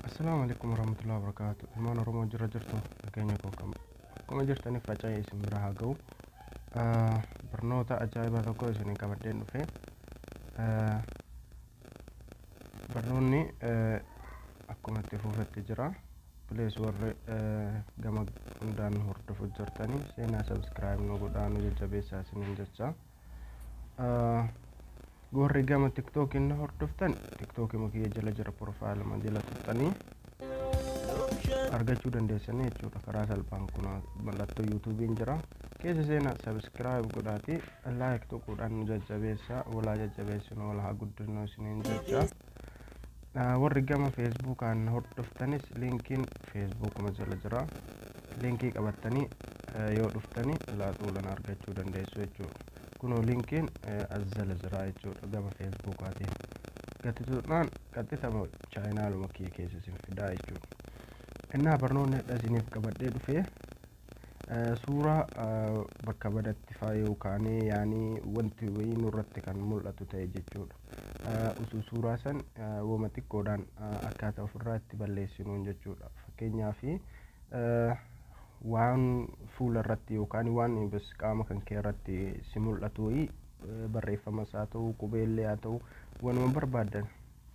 Assalaamu alaikum warahmatullahi wabarakaatu ilmaan oromoo jirra jirtu nageenya koo kam akkuma jirtaniif faca'ee isin bira haa ga'u Ah, barnoota ajaa'ibaa tokko isin qabadheen dhufe Ah, barnoonni eh, akkuma itti fuufetti jira please warri eh, gama hundaan hordofu jirtanii seenaa subscribe nu godhaa nu jajjabeessaa isiniin jecha Warri gama tiktookiin na hordoftan tiktookima kiyya jala jira profaayiluma jala tuqxanii argachuu dandeessanii jechuudha karaa salphaan kun mallattoo yuutuubiin jira keessa seenaa sabiskiraayib godhaatii laayik tuquudhaan nu jajjabeessaa walaa jajjabeessinu wal haa guddisnu isiniin jechaa warri gama feesbuukaan hordoftanis linkiin feesbuukuma jala jira linkii qabattanii yoo dhuftanii laaxuulan argachuu dandeessu jechuudha kunoo linkiin as jala jira jechuudha gama feesbuukaatiin gati tuqnaan qaxxitama chaayinaaluma kiyya keessa isin fidaa jechuudha innaa barnoonni hadha isiniif qabadhee dhufee Suuraa bakka badatti faa yoo kaanee yaani wanti wayii nurratti kan mul'atu ta'e jechuudha. Utuu suuraa san woma xiqqoodhaan akkaataa ofirraa itti balleessinuun jechuudha. Fakkeenyaaf waan fuula irratti yookaan waan ibis qaama kan kee irratti si mul'atu wayii barreeffama isaa ta'u qubeellee haa ta'u wanuma barbaaddan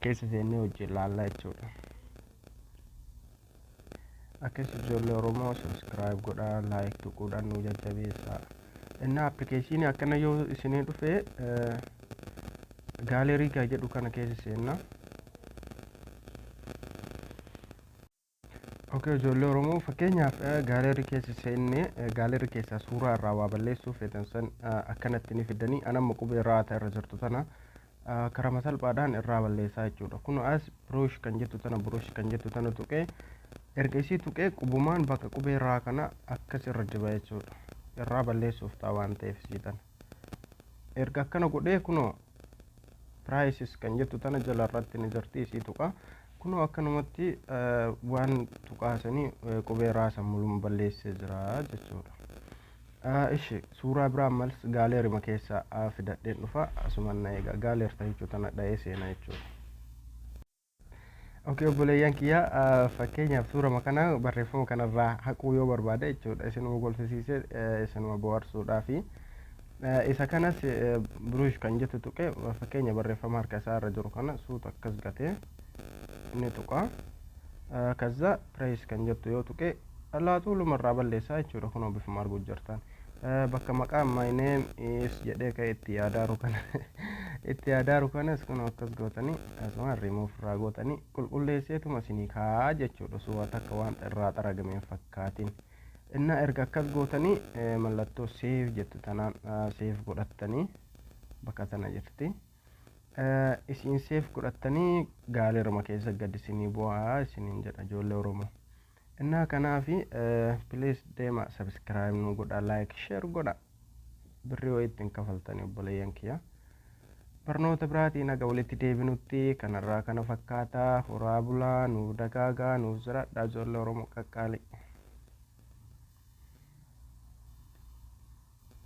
keessa seennee wajjin ilaalla jechuudha. Akkas ijoollee Oromoo subscribe godhaa like tuquudhaan nu jajjabeessaa. Innaa appilikeeshinii akkana yoo isinii dhufe gaalerii gaa jedhu kana keessa seenna. Ok ijoollee Oromoo fakkeenyaaf gaaleerri keessa seenne gaaleerri keessaa suuraa irraa waa balleessuu feetan san akkanatti ni fiddanii an amma qubee raata irra jirtu tana karama salphaadhaan irraa balleessaa jechuudha kun as biroosh kan jettu tana biroosh kan jettu tana tuqee erga isii tuqee qubumaan bakka qubee raa kana akkas irra diba jechuudha irraa balleessuuf ta'a waan ta'eef isii tana erga akkana godhee kunoo prices kan jettu tana jala irratti ni jirti isii tuqa kunoo akkanumatti eh, waan tuqaasanii eh, qubee raasan mulum balleessee jira jechuudha Ah, ishi suuraa biraa mals gaaleerima keessaa ah, fidadheen dhufa asuman na eega gaaleer tahechuu tana dha'ee seena jechuudha Okay obboleeyyan kiyya fakkeenyaaf suurama kana barreeffama kanarraa haquu yoo barbaade jechuudha isinuma golfisiise isinuma bohaarsuudhaafi isa kanas biruush kan jettu tuqe fakkeenya barreeffama harka isaa irra jiru kana suuta akkas gatee inni tuqa kaza pirees kan jettu yoo tuqe alaaxuuluma irraa balleessaa jechuudha kunoo bifuma arguu jirtan bakka maqaan my name is jedhee ka'e itti yaadaaru kana itti yaadaaru kanas kun akkas gootanii asuma remove irraa gootanii qulqulleesseetuma isinii kaa'aa jechuudha osoo waan takka waan irraa xaragame hin fakkaatin innaa erga akkas gootanii mallattoo save jettu tanaan save godhattanii bakka tana jirti isiin save godhattanii gaaleruma keessa gad isinii bu'aa isiniin jedha ijoollee oromoo Innaa kanaafi please deema subscribe nu godha like share godha birrii wayii ittiin kafaltanii obboleeyyan kiyya. Barnoota biraatiin haga walitti deebinutti kanarraa kana fakkaata horaa bulaa nuuf dagaagaa nuuf jiraadhaa ijoollee Oromoo qaqqaalii.